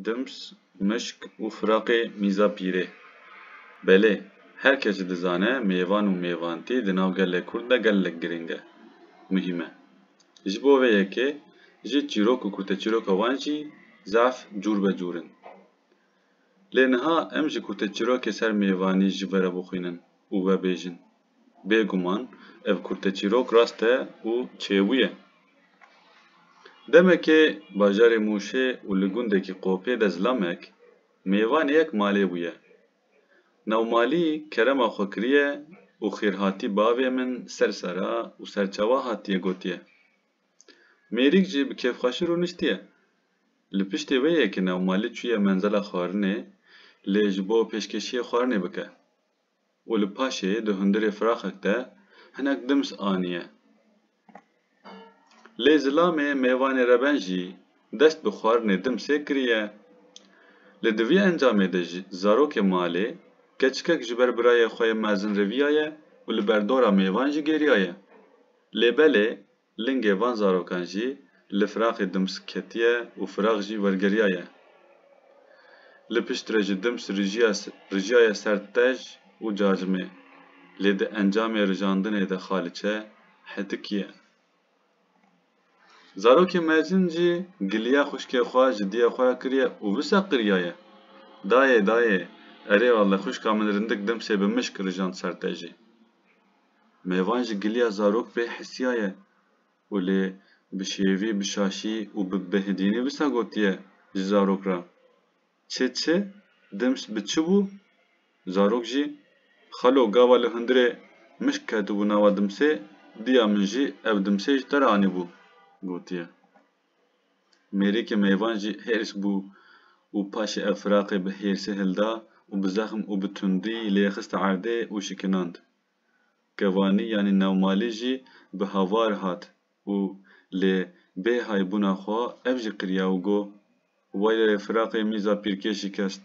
Dims, mişk û firaqê mîza pîrê. Belê, her kes jî dizane mêvan û mêvantî di nav gelê Kurd de gelek girîng e, muhîm e. Ji bo vê yekê jî çîrok û kurteçîroka wan jî zaf cûrbecûr in. Lê niha em ji kurteçîrokê ser mêvanî ji verebixwînin û vebêjin Bêguman ev kurteçîrok rast e û çêwî ye. Demekê bajarê Mûşê û li gundekî Qopê de zilamek mêvanê yek malê bûye. Navmalî kerema xwe kiriye û xêrhatî bavê min ser sara û ser çawa hatiye gotiye. Mêrîk jî bi kêfxweşî rûniştiye. Li piştê wê ye ke Navmalî çûye menzela xwarinê lê ji bo pêşkêşiyê xwarinê bike. û li paşê di hundirê firaxek de hinek dims aniye. Lê zilamê mêvanê reben jî dest bi xwarinê dimsê kiriye. Lê di vî encamê de jî zarokê malê keçikek ji ber birayê xwe yê mezin riviyaye û li ber dora mêvan jî gêriyaye. Lê belê Lingê van zarokan jî li firaxê Dims ketiye û firax jî wergeriyaye. Li piştre ji Dims rijiyaye ser Tej û Cacimê, lê di encamê rijandinê de Xaliçe hetikiye. Zarokê mezin jî giliya xwişkê xwe ji diyê xwe re kiriye û wisa qiriyaye, Dayê, dayê, erê wele xwişka min rindik Dimsê bi mişk rijand ser Tejê. Mêvan ji giliya zarok vê hisiya ye û lê bi şêvî, bi şaşî û bi bêhidînî wisa gotiye ji zarok re, Çi çi, dimst bi çi bû? Zarok jî, Xalo, gava li hundirê mişk ketibû nava dimsê, diya min jî ev dimsê ji te re anîbû, gotiye. Mêrikê mêvan jî hêrs bû û paşê ev firaqê bi hêrsê hilda û bi zexm û bi tundî lê xiste erdê û şikinand. Kevanî yanî newmalî jî bi havar hat û lê bê hay bûna xwe ev jî qiriya û got, Waylayê firaqê mîza pîrkê şikest.